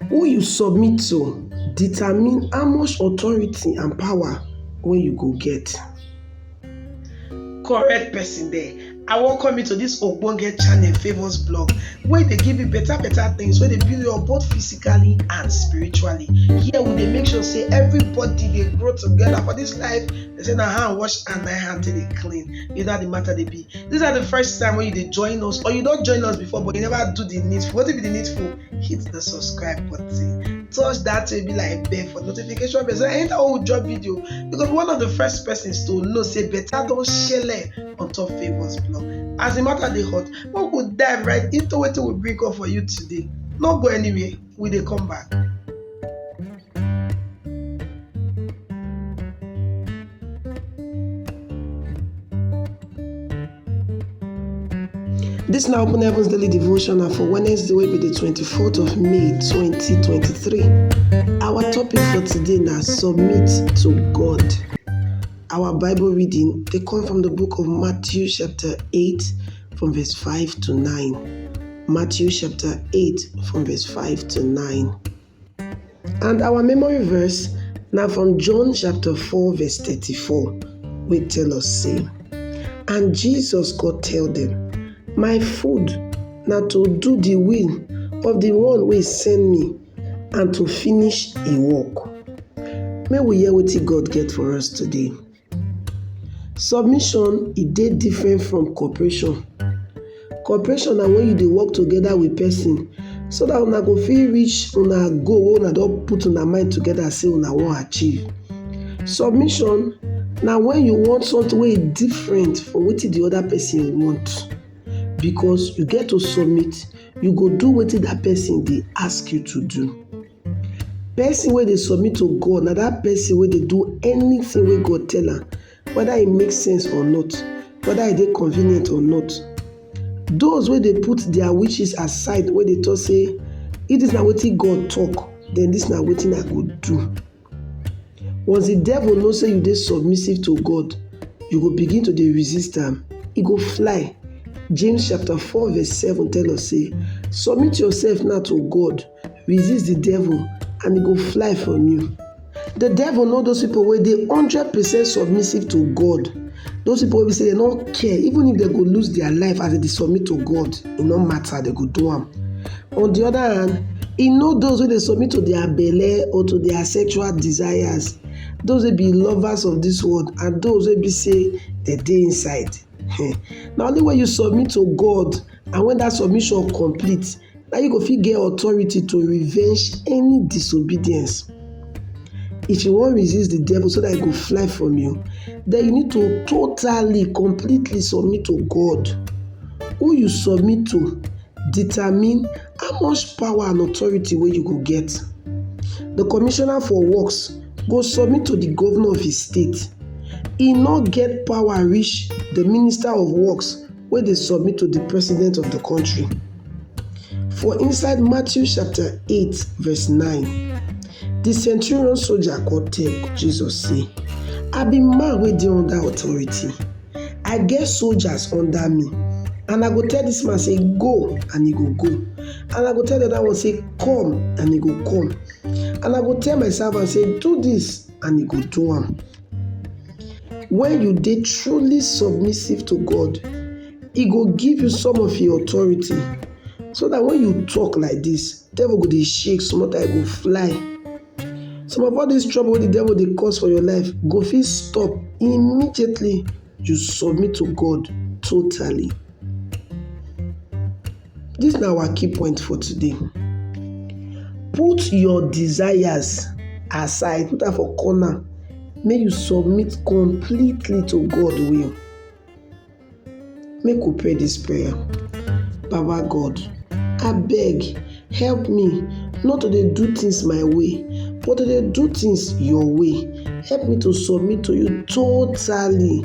Who you submit to determine how much authority and power wey you go get. Correct person there, I welcome you to this ogbonge channel Favours Blog wey dey give you better better things wey dey build you up both physically and spiritually. Here we dey make sure say everybody dey grow together for this life. They say na hand wash and na hand take dey clean. Is that the matter dey be? This is the first time wey you dey join us or you don join us before but you never do the needful. Wetin be the needful? hit the subscribe button touch that way be like bell for notification bell so anytime we drop video you go be one of the first persons to know say better don shele on top favours blog as the matter dey hot make we dive right into wetin we bring up for you today no go anywhere we dey come back. Dis na Open Heavens Daily Devotional for Wednesday wey be di twenty-fourth of May twenty twenty-three. Our topic for today na submit to God. Our Bible reading dey come from the book of Matthew chapter eight from verse five to nine. Matthew chapter eight from verse five to nine. And our memory verse na from John chapter 4 verse 34 wey tell us say, And Jesus go tell dem, My food na to do the will of the one wey send me and to finish im work. Make we hear wetin God get for us today. Submission e dey different from cooperation, cooperation na wen you dey work togeda wit pesin so dat una go fit reach una goal wey una don put una mind togeda sey una wan achieve. Submission na wen you want somtin wey e different from wetin di oda pesin want because you get to submit, you go do wetin dat pesin dey ask you to do. Person wey dey submit to God na that person wey dey do anything wey God tell am, whether e make sense or not, whether e dey convenient or not. Those wey dey put their wishes aside, wey dey talk say, if this na wetin God talk, then this na wetin I go do. Once the devil know say you dey submissive to God, you go begin to dey resist am, e go fly. James chapter 4 verse 7 tell us say, Submit yourself now to God. Resist the devil and e go fly from you. The devil know those people wey dey hundred percent submissive to God. Those people wey be say dem no care even if dem go lose their life as dem dey submit to God, e no matter, dem go do am. On the other hand, e know those wey dey submit to their belle or to their sexual desires, those wey be lovers of this world and those wey be say dem dey inside. um Na only when you submit to God and when that submission complete na you go fit get authority to revenge any disobedience. If you wan resist the devil so that he go fly from you, then you need to totally, completely submit to God. Who you submit to determine how much power and authority wey you go get. The commissioner for works go submit to the governor of his state. He no get power reach the minister of works wey dey submit to di president of di kontri. For inside Matthew chapter eight verse nine, di centurion soldier come tell Jesus say, I be man wey dey under authority, I get soldiers under me and I go tell dis man say go and e go go and I go tell di oda one say come and e go come and I go tell my servant say do dis and e go do am. Wen you dey truly submissive to God, e go give you some of im authority so dat wen you talk like dis, devil go dey shake small time e go fly. Some of all dis trouble wey de devil dey cause for your life go fit stop immediately you submit to God totally. Dis na our key point for today. Put your desires aside, put am for corner, make you submit completely to God will. Make we pray dis prayer. Baba God, abeg help me not to dey do things my way but to dey do things your way. Help me to submit to you totally.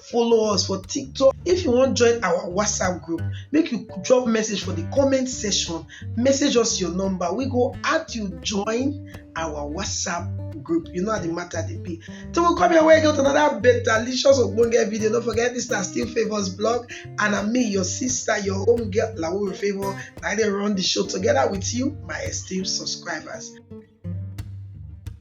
follow us for tiktok if you wan join our whatsapp group make you drop message for the comment section message us your number we go add you join our whatsapp group you know how the matter dey be till we come your way again with another better licious ogbonge video no forget this na still favours blog and na me your sister your home girl lawore favour na i dey run the show together with you my esteemed subscribers